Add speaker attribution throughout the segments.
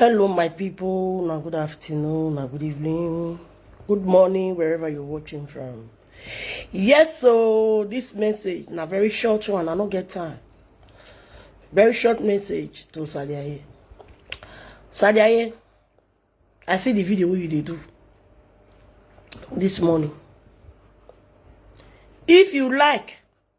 Speaker 1: hello my people na good afternoon na good evening good morning wherever you're watching from yes so this message na very short one i no get time very short message to sadiaye sadiaye i see the video wey you dey do this morning if you like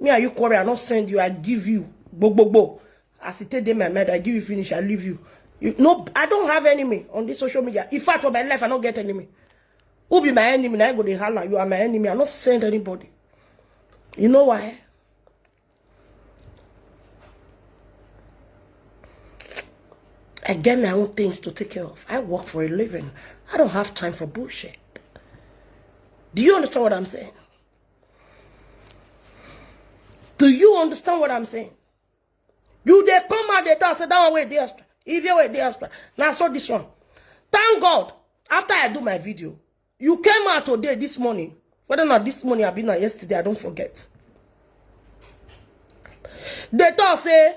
Speaker 1: me and you quarrel i no send you i give you gbogbogbo as e take dey my mind i give you finish i leave you you no i don't have enemy on this social media in fact for my life i no get enemy who be my enemy na i go dey holla you are my enemy i no send anybody you know why I get my own things to take care of. I work for a living. I don't have time for bullshit. Do you understand what I'm saying? Do you understand what I'm saying? You they come out they tell say that one way dey extra. If you way dey extra. Now so this one. Thank God. After I do my video, you came out today this morning. Whether not this morning or been not yesterday, I don't forget. They talk say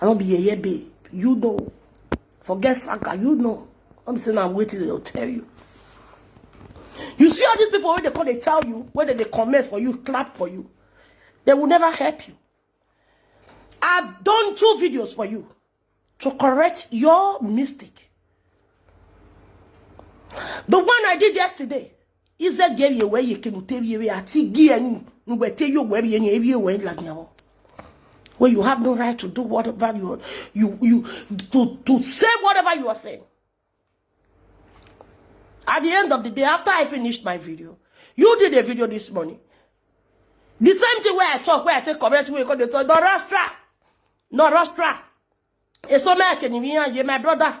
Speaker 1: i no be yeye babe you know forget saka you know no be say na wetin dem tell you you see all these people wey dey come dey tell you wey dem dey comment for you clap for you they will never help you i've done two videos for you to correct your mistake the one i did yesterday ize ge ye we ye ke no te ye we ati gi en no we te yo we ye ni ye we la nyawo when you have no right to do whatever you you you to to say whatever you are saying at the end of the day after i finished my video you did a video this morning the same thing where i talk where i take correct where you call the talk no rastra no rastra it's so like my brother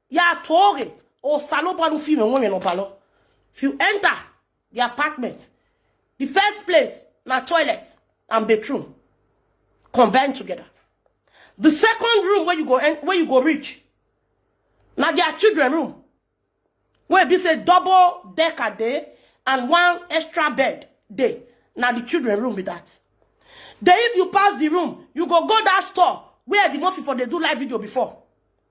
Speaker 1: ya tore o salo banu fi me won no balo if you enter the apartment the first place na toilet and bedroom combine together the second room where you go en- where you go reach na their children room wey be say double decker dey and one extra bed dey na the children room be that then if you pass the room you go go that store where the murphy for dey do live video before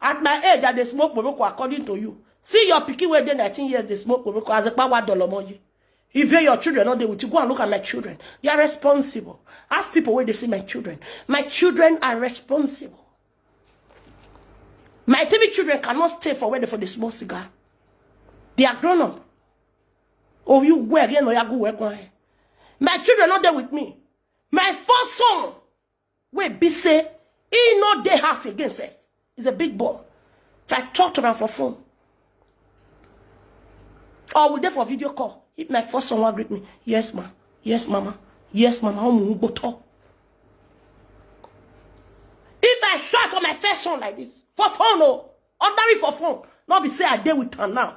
Speaker 1: At my age, I dey smoke poroko according to you. See your pikin wey dey 19 years dey smoke poroko as a power dollar money. If your children no dey with you, go and look at my children. They are responsible. Ask people where they see my children. My children are responsible. My TV children cannot stay for where they for the small cigar. They are grown up. Oh, you wear, you know, you go wear. My children not there with me. My first son wey be say he no dey house again sef he's a big boy so i talk to am for phone or we dey for video call if my first son wan greet me yes ma yes mama yes mama ọmọ n gbotọ if i shout for my first son like this for phone o ordinary for phone no be say i dey with am now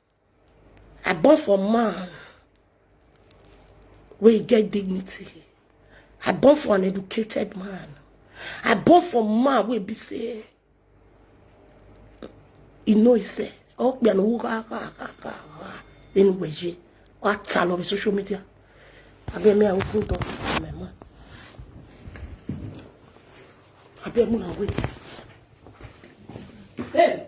Speaker 1: I born for man wey get dignity. I born for an educated man. I born for man wey be say e know himself. Oh, be an in waje. What all over social media. I be me I open door for my man. I be me I wait. Hey,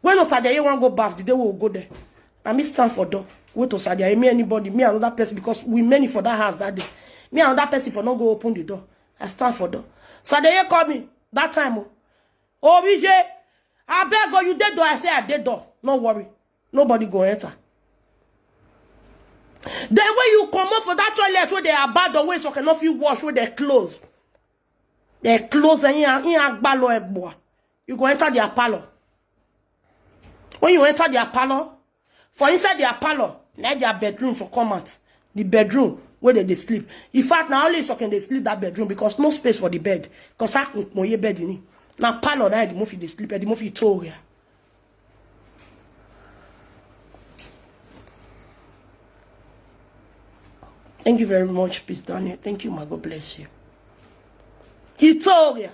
Speaker 1: When Osadiaye wan go baff, the day we will go there. Na me stand for door. Wait Osadiaye, me anybody, me another person because we many for that house that day. Me another person for not go open the door. I stand for door. Osadiaye call me that time. Oh, oh VJ, I beg you, you dead door. I say I dead door. No worry, nobody go enter. Then when you come up for that toilet where they are bad the way so cannot feel wash where they close. They close and you are balo ebwa. you go enter their parlor when you enter their parlor for inside their parlor na their bedroom for come out the bedroom where they dey sleep in fact na only sokin dey sleep that bedroom because no space for the bed because i kun moye bed ni na parlor na the mofi dey sleep the mofi too ya. Thank you very much, Peace Daniel. Thank you, my God bless you. He told you.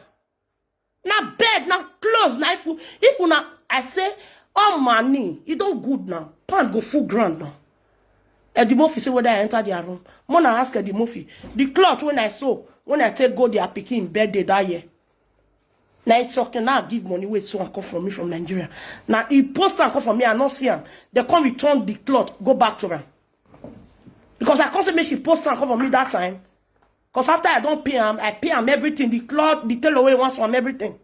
Speaker 1: na bed na clothes na if if una i say all money e don good now pan go full ground now edimofi say whether i enter their room more na ask edimofi the cloth wey i sew when i take go their pikin birthday that year na isoke na give money wey sew am come for me from nigeria na he post am come for me i no see am dem come return the cloth go back to am because i come say make she post am come for me that time Because after I don't pay am, I pay am everything, the cloth, the tailor wey wants am, everything.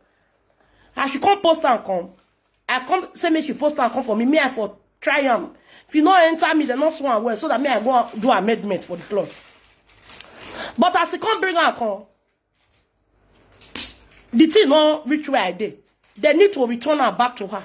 Speaker 1: As she come post am come, I come say make she post am come for me, me I for try am. If you no enter me, they no swan am well, so that me I go do amendment for the cloth. But as he come bring am come, the thing no reach where I dey. They need to return her back to her.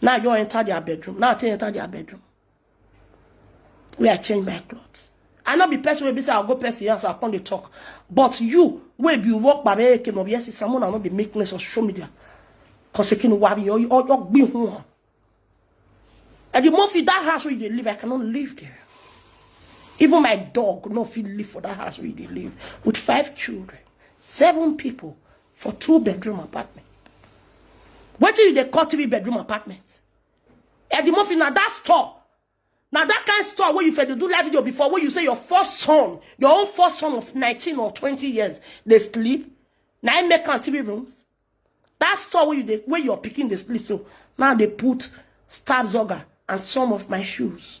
Speaker 1: Now you enter their bedroom. Now I take enter their bedroom. Where I change my clothes. I not be person wey be say I go person house, I come dey talk. But you, wey be work by me, came of yes, someone I not be making this on social media. Cause you can worry, or you or you be home. And the more fit that house where you live, I cannot live there. Even my dog no fit live for that house where they live with five children, seven people, for two bedroom apartment wetin you dey call three bedroom apartment edimofi na that store na that kind store wey you fit dey do live video before wey you say your first son your own first son of 19 or 20 years dey sleep na im make am three rooms that store wey you dey wey your pikin dey sleep so now dey put stab zoga and some of my shoes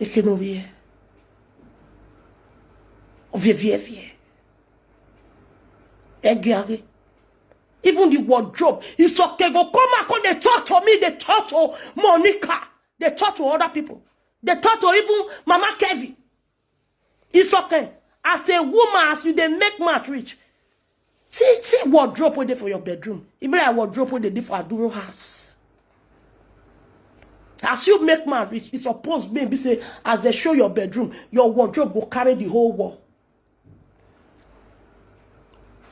Speaker 1: eke no vie ovie vie vie egiare even the wardrobe is okay go come and come dey talk to me dey talk to monica dey talk to other people dey talk to even mama kevin Isoke, as a woman, as you dey make mouth reach, see, see wardrobe wey dey for your bedroom. E be like wardrobe wey dey dey for Aduro house. As you make mouth reach, e suppose make be say as they show your bedroom, your wardrobe go carry the whole wall.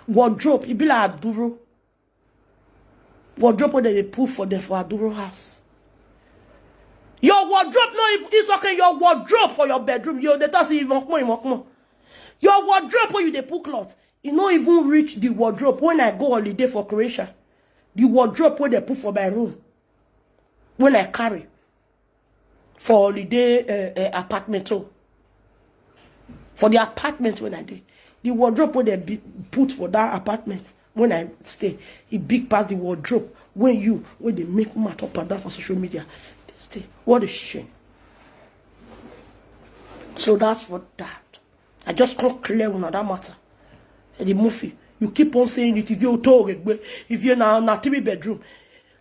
Speaker 1: Wardrobe, e be like Aduro. wardrobe wey dem dey put for dem for aduro house your wardrobe no even it's okay your wardrobe for your bedroom you dey talk say imokmo imokmo your wardrobe wey you dey put cloth e no even reach the wardrobe when i go holiday for croatia the wardrobe wey dem put for my room when i carry for holiday uh, uh, apartment oh. for the apartment when i dey the wardrobe wey dem be- put for that apartment when i stay e big pass the wardrobe wey you wey dey make mouth up and down for social media dey stay what a shame so that's for that i just come clear una that matter the movie you keep on saying it if you talk if you now now three bedroom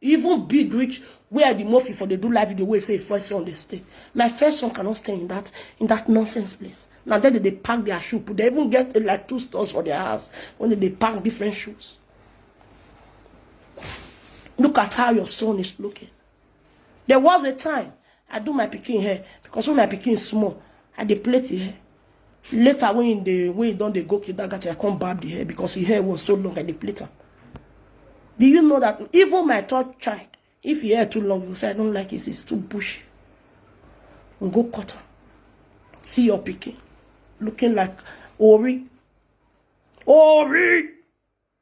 Speaker 1: Even big reach where the mofi for dey do live video wey say him first son dey stay. My first son cannot stay in that in that nonsense place. Na there they dey pack their shoe put. They even get eh, like two stores for their house when they dey pack different shoes. Look at how your son is looking. There was a time I do my picking hair because when my picking is small, I dey plait the hair. Later, when he dey when he don dey go Kidagachi, I come barb the hair because his hair was so long I dey plait am. Do you know that even my third child, if he hair too long, you say I don't like it, it's too bushy. We go cut am. See your pikin looking like Ori. Ori!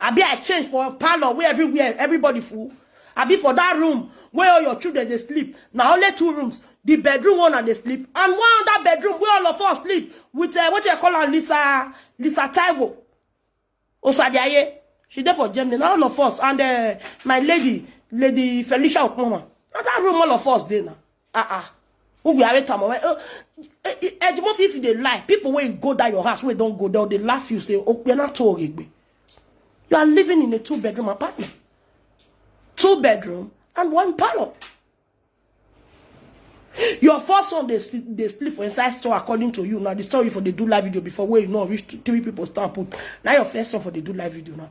Speaker 1: abi i change for parlor wey everywhere everybody full abi for that room wey all your children dey sleep na only two rooms the bedroom one na dey sleep and one other bedroom wey all of us sleep with uh, wetin i call am lisa lisa taiwo osadiaye she dey for germany na all of us and uh, my lady lady felicia okpoma na that room all of us dey na ah ah who be areta mo ejimo fi if you dey lie people wey go that your house wey don go there dey laugh you say opiana to oregbe you are living in a two bedroom apartment two bedroom and one parlor your first son dey sleep dey sleep for inside store according to you now the story for dey do live video before wey you no reach three people stand put na your first son for dey do live video now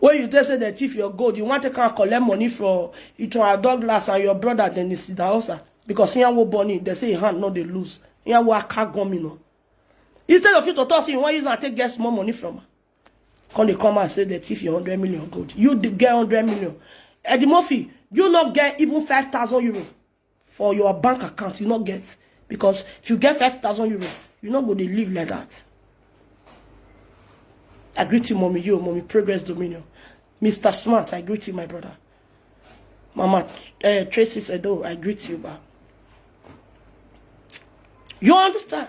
Speaker 1: When you tell say dem thief your gold, you want to come collect money from Iton Douglas and your brother Dennis Daosa because here wo born in, they say hand no they lose. Here wo aka gomino. Instead of you to talk, say you want use and take get small money from her. Come they come and say they thief your hundred million gold. You dey get hundred million. Eddie Murphy, you not get even five thousand euro. for your bank account you no get because if you get 5000 euro you no go dey live like that i greet you mommy yo mommy progress dominion mr smart i greet you my brother mama uh, tracy sedo i greet you ba you understand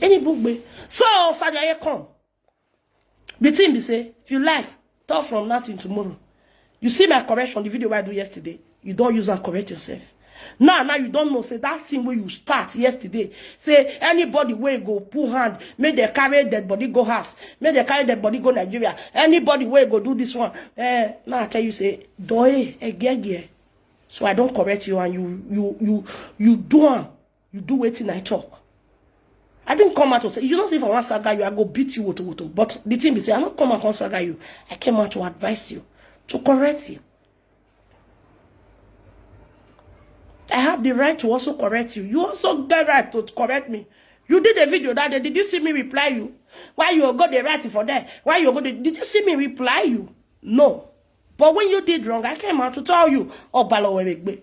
Speaker 1: Any book be. So Sajaye come. The thing they say, if you like, talk from now till tomorrow. You see my correction, the video I do yesterday. You don't use and correct yourself. Now, now you don't know. Say that thing where you start yesterday. Say anybody where go pull hand, make they carry dead body go house, make they carry dead body go Nigeria. Anybody where go do this one. Eh, now I tell you say, doe, egege. So I don't correct you and you you you you do am. you do wetin i talk i didn't come out to say you don't see if i wan saga you i go beat you woto woto but the thing be say i no come out come saga you i came out to advise you to correct you i have the right to also correct you you also get right to correct me you did a video that day did you see me reply you why you go dey write for there why you go dey did you see me reply you no but when you did wrong i came out to tell you ọbalọwẹrẹgbe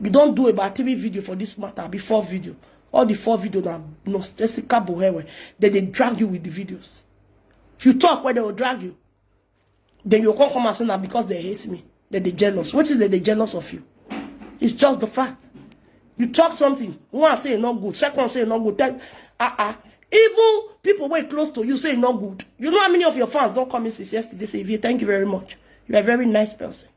Speaker 1: you don do about three video for this matter abi four video all the four video na nonsensical bohewe dem dey drag you with the videos if you talk wey dem go drag you then you come come and say na because they hate me dem dey jealous wetin dem dey jealous of you it's just the fact you talk something one say e no good second say e no good then ah ah even people wey close to you say e no good you know how many of your fans don come in since yesterday say Evie thank you very much you are a very nice person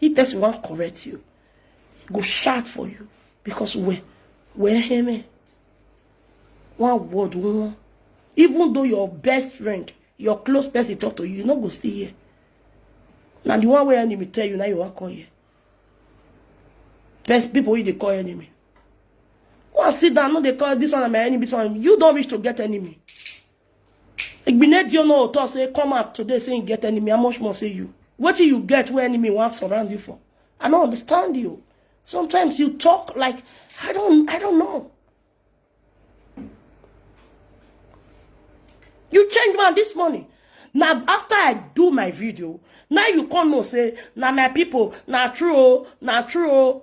Speaker 1: If person wan correct you, go shout for you because where where him one word one even though your best friend your close person talk to you you no go still hear na the one wey enemy tell you na you wan call here best people wey dey call enemy wan sit down no dey call this one na my enemy this one you don reach to get enemy Igbinedio no talk say come out today say you get enemy. How much more say you? What you get where enemy want surround you for? I don't understand you. Sometimes you talk like I don't I don't know. You change man this morning. Now after I do my video, now you come and say, now my people, now true, now true.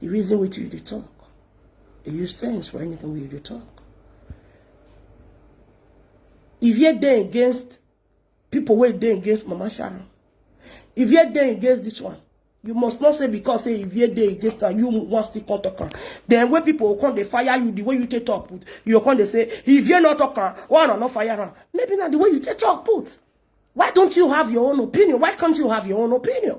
Speaker 1: The reason we you dey talk. They use sense for anything we dey talk. If you're there against people were there against Mama Sharon, if you're there against this one, you must not say because say if you're there against her, you want still come talk her. Then when people will come, they fire you the way you take talk put. You come, they say, if you're not talking, why not fire her? Maybe not the way you take talk put. Why don't you have your own opinion? Why can't you have your own opinion?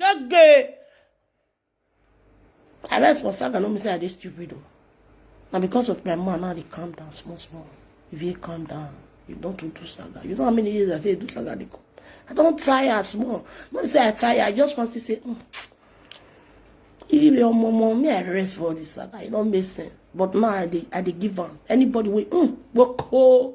Speaker 1: Gege! I rest for saga no mean say I dey stupid o. Na because of my man now I dey calm down small small. If you calm down, you don too do saga. You know how many years I take dey do saga dey come. I don tire small. No be say I tire, I just wan still say mm. If your momo, me I rest for all this saga. E no make sense. But now I dey I dey give am. Anybody wey mm, gboko.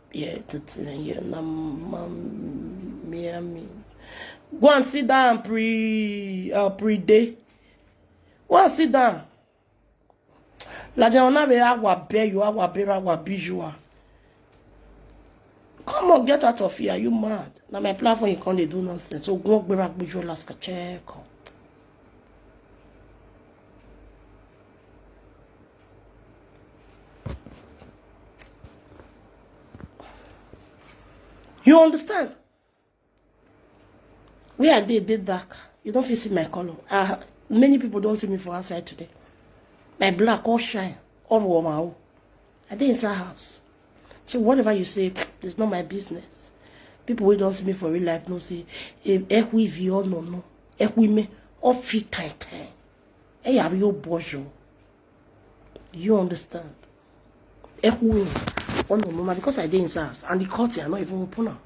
Speaker 1: Yeah, yeah, na Miami. Go and sit down, pre, uh, pre day. Go and sit down. La jana be agwa be you agwa be agwa be you are. Come on, get out of here. Are you mad? Now my platform you can't do nonsense. So go back with your last check. you understand where i dey dey dark you don fit see my colour ah many people don see me for outside today my black all shine all warm out I dey inside house. So whatever you say, it's not my business. People who don't see me for real life no say, eh, eh, we vi or no no, eh, we me, or fi time time. Eh, are you bojo? You understand? Eh, we me, or no no, because I dey inside house, and the court here, I not even open now.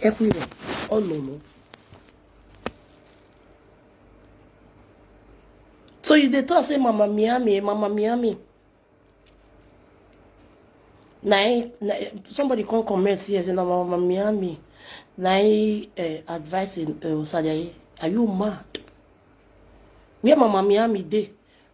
Speaker 1: Eh, we me, or no no. so you dey talk say mama miami mama miami na him na somebody come comment here say na mama miami na him uh, advice in uh, osajaye are you mad where mama miami dey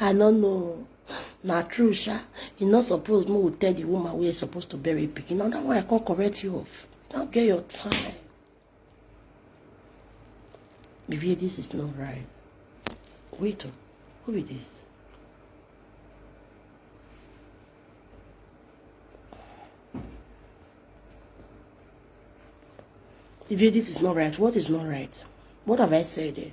Speaker 1: i no know na true sha e no suppose make we tell the woman wey suppose to bury pikin na that one i come correct you off you no get your time Vivier this is not right wait o who be this. Vivier, this is not right. What is not right? What have I said there?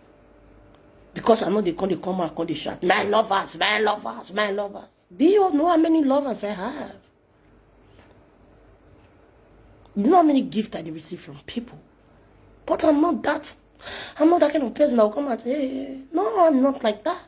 Speaker 1: because i know they come they come out come they shout my lovers my lovers my lovers do you know how many lovers i have you know how many gifts i receive from people but i'm not that i'm not that kind of person that will come and say hey, no i'm not like that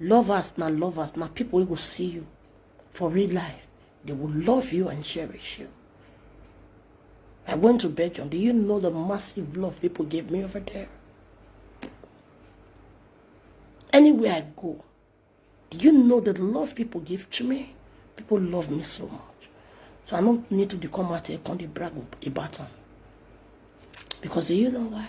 Speaker 1: Lovers na lovers na people wey go see you for real life. They will love you and cherish you. I went to Belgium. Do you know the massive love people gave me over there? Anywhere I go, do you know the love people give to me? People love me so much. So I don't need to become out here and brag about them. Because do you know why?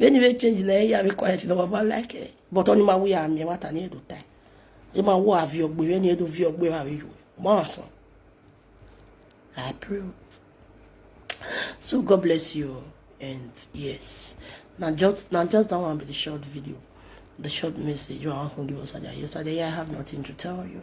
Speaker 1: anyway change na ya be quiet no baba like it but only my way am me what I need to time e ma wo avi ogbe we ni edo vi ogbe wa we yo ma so I pray so God bless you and yes now just now just that one be the short video the short message you are hungry was I have nothing to tell you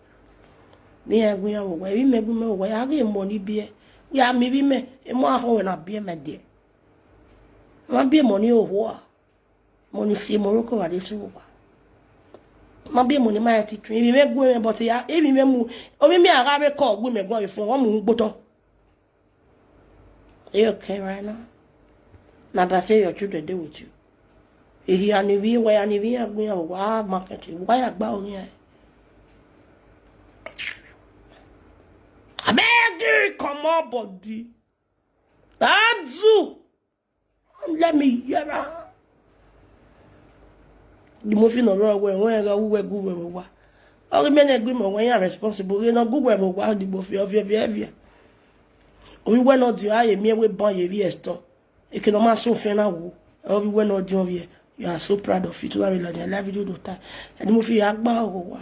Speaker 1: mi ya gu ya wo wi me gu me wo ya ge mo ni bie ya mi bi me e mo aho we na bie me die ma bie mo ni o ho a mo ni si mo ro ko wa de si wo ba ma bie mo ni ma ya ti tun bi me gu me but ya e bi me mu o mi mi ara re ko gu me gu e fun wo mu gbo to Are you okay right now? Now that's say your children deal with you. If you are nevi, why are nevi agbe o wa market? Why agba o ni e? Abeg you comot body. That zoo. let me hear am the movie no run well when ga we go we wa all men agree mo when you responsible we no go we mo wa the movie of your behavior we we no do aye me we ban ye vi esto e ke no ma so fe na wo all we we no do of ye you are so proud of it to have like life you do time and the movie agba o wa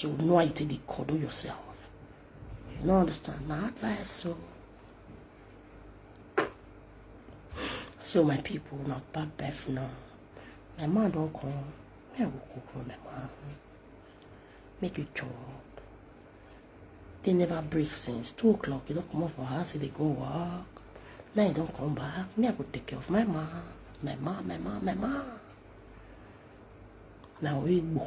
Speaker 1: you know how you take dey cuddle yourself you no understand na advice so so my people na bad birth now my man don come me i go cook for my man make you chop they never break since two o'clock you don comot for house you dey go work now you don come back me i go take care of my man my man my man my man na oigbo.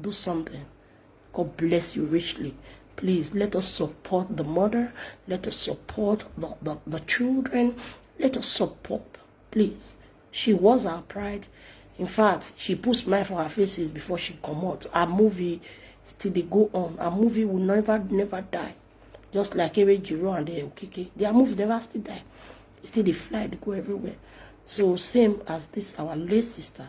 Speaker 1: do something God bless you richly please let us support the mother let us support the, the, the children let us support please she was our pride in fact she put smile for her faces before she come out her movie still they go on her movie will never never die just like Ere Jiro and the Okike their movie never still die still they fly they go everywhere so same as this our late sister